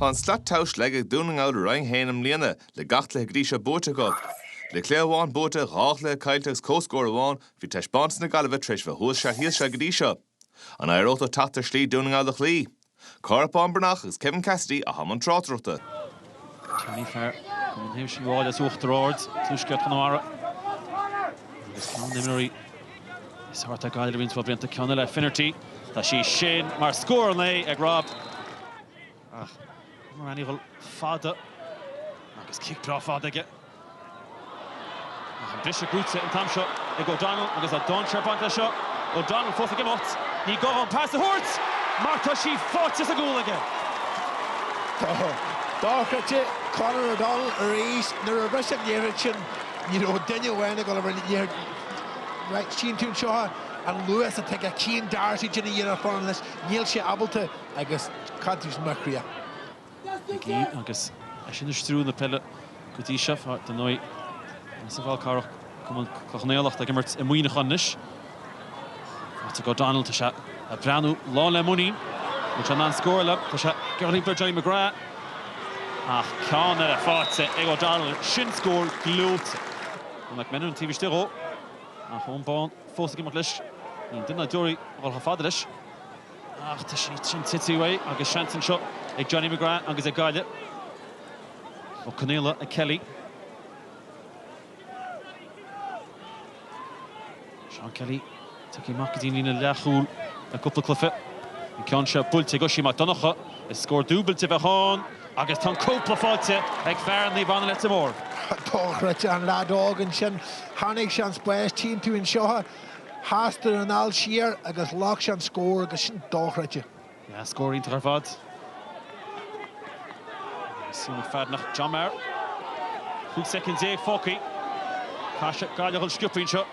Thá an slat tomhais leagtha ag Dún na nGall i Roinn 1 i mbliana, le gach cluiche go dtí seo buaite acu. Le cluiche amháin buaite, dhá chluiche caillte agus comhscór amháin, bhí taispeántas na Gaillimhe tar éis a bheith thuas seal thíos seal go dtí seo. An éireoidh leo teacht ar shlí Dún na nGall a chloí? Cárthach Bán Breathnach agus Kevin Cassidy a thom an tráchtaireachta. Tá an fear Matthew Thierney as Uachtar Ard, tuaisceart Chonamara, agus ceann d'imreoirí is fearr atá ag Gaillimh roinnt mhaith blianta ceann eile, Finnerty. Tá sé sin mar scór 9 ag Rob. Ach, imreoir ainniúchal fada agus cic breá fada aige. Agus an briseadh buaite an t-am seo ag O'Donnell agus a dhán seirfeachta seo. O'Donnell fós ag imeacht. Ní gá dhó pas a thabhairt mar tá sí sáite sa gcúl aige. Dochreidte! Conor O'Donnell arís. Nuair a bhris an liathróid sin ní raibh duine amháin ag dul a bhreith air. Chíonn tú anseo an luas atá aige. Cian Darcy, déanamh iarracht fanacht leis, níl sé ábalta agus cad tá sé mar chríoch? McGee agus eisean ag stiúradh na peile go dtí seo. Ar ndóigh, tá Cill Charthaigh, cumann Chloich Cheann Fhaola, ag imirt i Muineachán anois. Patrick O'Donnell, tá sé ag breathnú lán le muinín. Bhfuil sé in ann scóráil? Tá sé. Ag iompar Johnny McGrath. Ach ceann eile faighte ag O'Donnell. Sin scór gleoite. Tá McMenamin taobh istigh dhó. Ach Eoin Bán fós ag imeacht leis. Níl duine ná deoraí ag dul chomh fada leis. Ach tá sí sin tite uaidh agus seans anseo ag Johnny McGrath agus ag Gaillimh. Ó Conghaile ag Kelly. Seán Kelly tugtha amach go dtí an líne leathchúil le cúpla cluiche. An ceann seo buailte ag Oisín Mac Donnacha. Is scór dúbailte a bheadh ann agus tá an cúpla faighte ag fear Naomh Anna Leitir Móir. Dochreidte an lead óg ansin. Tháinig sé sa spás timpeall anseo. Chas sé an fhaill siar agus thóg sé an scór agus sin dochreidte. Yeah, scór iontach ar fad. Súil ag fear nach John Maher. Cúig second déag fágtha. Caithfidh Gaillimh dul sciobtha anseo.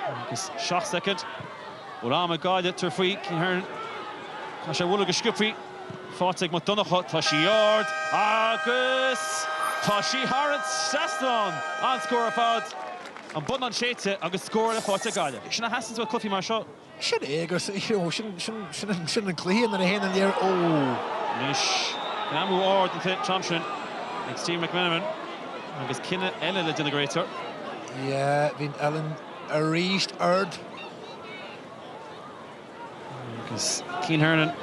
Agus seacht second. Bhfuil am ag Gaillimh tabhairt faoi Cian Hernon. Caithfidh sé bogadh go sciobthaí. Faighte ag Mac Donnacha, tá sí ard agus tá sí thar an trasnán! An-scór ar fad. An bonnán séidte agus scór eile faighte ag Gaillimh. Sin a theastaíonn i gcluichí mar seo. Sin é agus sin an cluiche nuair a théann an liathróid. Anois greamú ard an t-am sin ag Stephen McMenamin agus cinneadh eile le déanamh ag an réiteoir. Yeah, bhí an uillinn arís ard. Agus Cian Hernon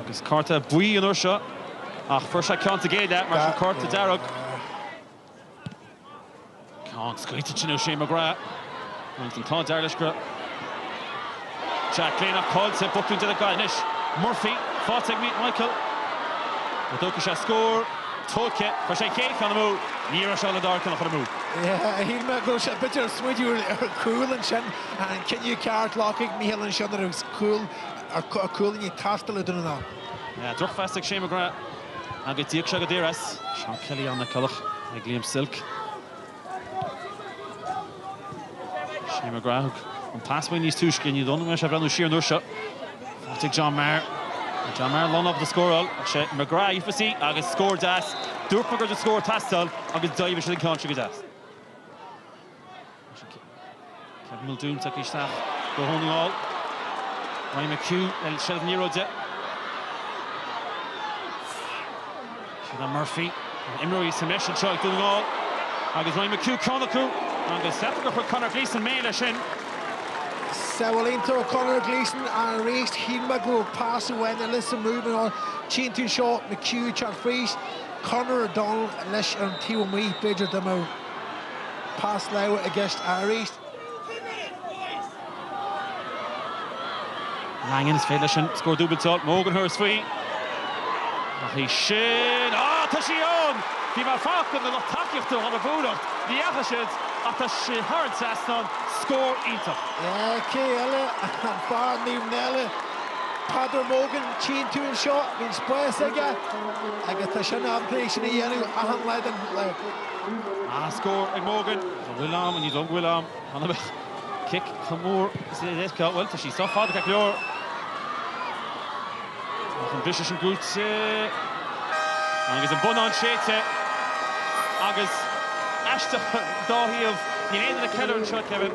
agus cárta buí an uair seo ach fuair sé ceann sa gcéad leath mar sin cárta dearg. Ceann scaoilte sin ó Shane McGrath. Agus an t-ádh dearg leis go raibh Jack Glynn ach caillte ag botúin Dé na Gaillimhe anois. Murphy, faighte ag Michael. Ó tógfaidh sé scór. tóigthe. Chuir sé a chéad cheann amú. Ní raibh sé ábalta a dara ceann a chur amú. Shíl mé go raibh sé b'fhéidir ag smaoineamh ar a chúl ansin. An cinneadh ceart glactha ag Mícheál ansin nuair atá cúilíní ag teastáil ó Dhún na nGall. Drochphas ag Shane McGrath agus d'íoc sé go daor as. Seán Kelly, Anna Nic Cullach ag Liam Silke. Shane McGrath, an pas aige níos túisce, ní dóigh liom sé ag breathnú siar an uair seo. Pas ag John Maher. John Maher lonnaithe le scóráil. Ach sé McGrath a d'fhiafraigh sí agus scór deas. Dúirt mé go raibh scór ag teastáil agus d'aimsigh sé an ceann seo go deas. Kevin Muldoon tugtha isteach do Dhún na nGall. Ryan McHugh le seilbh an liathróide. Ciarán Murphy an imreoirí sa mbreis anseo ag Dún na nGall agus Ryan McHugh ceann acu agus deirtear gur chuir Conor Gleeson méar leis sin. Sábháil iontach ó Conor Gleeson arís, shíl mé go raibh pas amháin eile sa move in all. Tchíonn tú seo, McHugh ag teacht fríd, Conor O'Donnell leis ar an taobh amuigh, b'fhéidir d'imeodh. Pas láimhe i gceist airís. Langan, is féidir leis an scór dúbailte a fháil. Mogan tabharfaidh sé faoi. Ach í sin. Á, tá sí ann! Bhí mé ag fanacht ar an lucht tacaíochta a dhul ag búireach. Ní dheachaigh siad, ach tá sí thar an trasnán. Scór iontach. Ach cé eile, an fear Naomh Náille, Peadar Mogan, tchíonn tú anseo. Bíonn spás aige agus tá sé ábalta sin a dhéanamh achan lá den. An scór ag Mogan. An bhfuil am? Ní dóigh go bhfuil am. An mbeadh cic chomh mór is a d'fhéadfadh a bheith? Bhuel, tá sí sách fada, ceart go leor. Ach an briseadh sin buaite. Agus an bonnán séidte. Agus, aisteach, dá thaobh, níl aon duine ag ceiliúradh anseo, Kevin.